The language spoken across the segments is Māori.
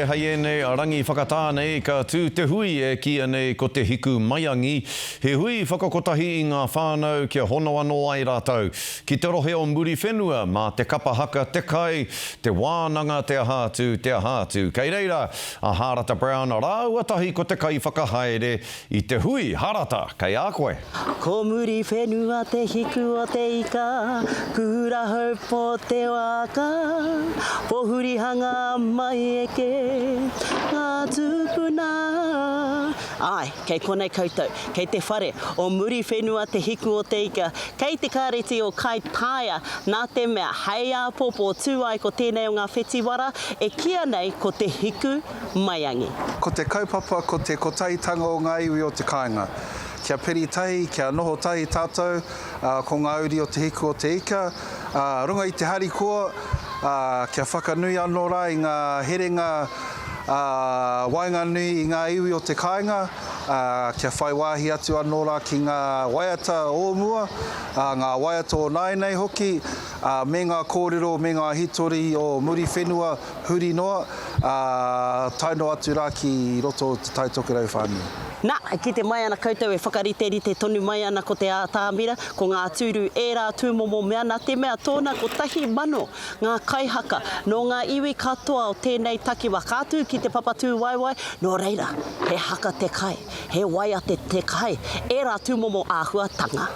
Hei ēnei a Rangi whakatā nei ka tū te hui e kīia nei ko Te Hiku Maiangi, he hui whakakotahi i ngā whānau kia hono anō ai rātou ki te rohe o Muriwhenua mā te kapa haka, te kai, te wānanga te aha atu, te aha atu. Kei reira a Hārata Brown rāua tahi ko te kaiwhakahaere I te hui harata kei a koe. Ko muri whenua te hiku o te ika, Kura hou po te waka, Pohuri hanga mai eke nga tupuna. Ae, kei konei koutou, kei te whare o muri whenua te hiku o te ika, kei te kareti o Kaitaia, na te mea hei apopo tu ai ko tenei o nga whetiwara e kia nei ko te hiku maiangi. Ko te kaupapa ko te kotaitanga o ngā iwi o te kāinga. Kia peri tahi, kia noho tahi tātou, ā, ko ngā uri o Te Hiku o te Ika, ā, runga i te harikoa, ā, kia whakanui anō rā i ngā herenga, ā, waenganui i ngā iwi o te kāinga, ā, kia whai wāhi atu anō rā ki ngā waiata o mua, ā, ngā waiata o nāianei hoki, ā, me ngā kōrero me ngā hitori o Muriwhenua, Huri noa, ā, tae noa atu rā ki roto o Te Tai Tokerau whānui. Nā, kite mai ana koutou e whakariterite tonu mai ana ko te ātamira, ko ngā tūru ērā tūmomo mea nā te mea tōna kotahi mano ngā kaihaka nō ngā iwi katoa o tēnei takiwa ka tū ki te Papatūwaewae, nō reira, he haka te kai, he waiate te kai, ērā tūmomo āhuatanga.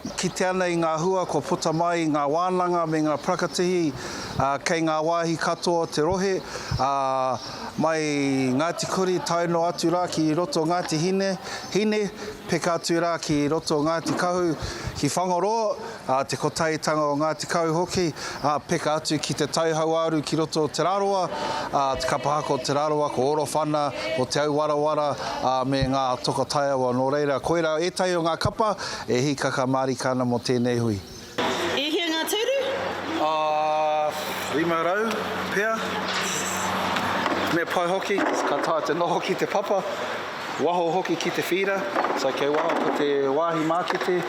E kite ana i ngā hua kua puta mai i ngā wānanga me ngā prakatihi kei ngā wāhi katoa o te rohe, mai Ngāti Kuri tae noa atu rā ki roto o Ngāti Hine, peka atu rā ki roto o Ngāti Kahu, ki Whangaroa, te Kotahitanga o Ngāti Kahu hoki, peka atu ki Te Tai Hauāuru ki roto o Te Rarawa, te kapa haka o Te Rarawa, ko Orowhana, ko Te Auwarawara me ngā toka taiawa. Nō reira, koirā ētahi o ngā kapa E hikaka marika ana mo tenei hui. E hia nga turu? Ahh, rima rau pea. Me pai hoki, ka taea te noho ki te papa, waho hoki ki te whira, so kei waho ko te wahi makete,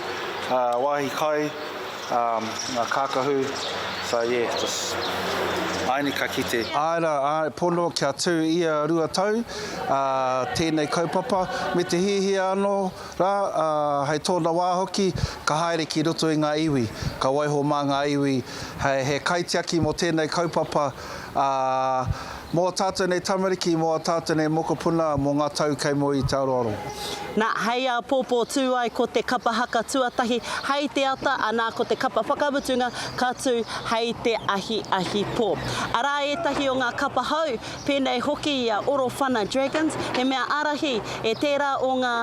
wahi kai, nga kakahu, so yeah, just aini ka kite. Ae ra, ae pono kia tu ia rua tau, a tenei kaupapa, me te hihia ano, Rā, ā, hei tōna wā hoki, ka haere ki roto i ngā iwi, ka waiho mā ngā iwi hei he kaitiaki mō tēnei kaupapa, ā, mō ā tātou nei tamariki, mō ā tātou nei mokopuna mō ngā tau kei mua i te aroaro. Nā, hei āpōpō tū ai ko te kapa haka tuatahi hei te ata, anā, ko te kapa whakamutunga ka tū hei te ahiahi pō. Arā ētahi o ngā kapa hou pēnei hoki i a Orowhana Dragons, he mea ārahi e tērā o ngā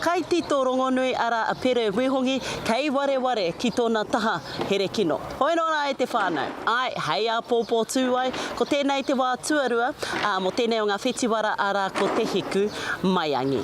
kaitito rongonui arā a Pere Wehongi kei wareware ki tōna taha here kino. Hoi anō rā e te whānau, āe, hei āpōpō tū ai, ko tēnei te wā tuarua, ā, mō tēnei o ngā whetiwara arā ko Te Hiku Maiangi.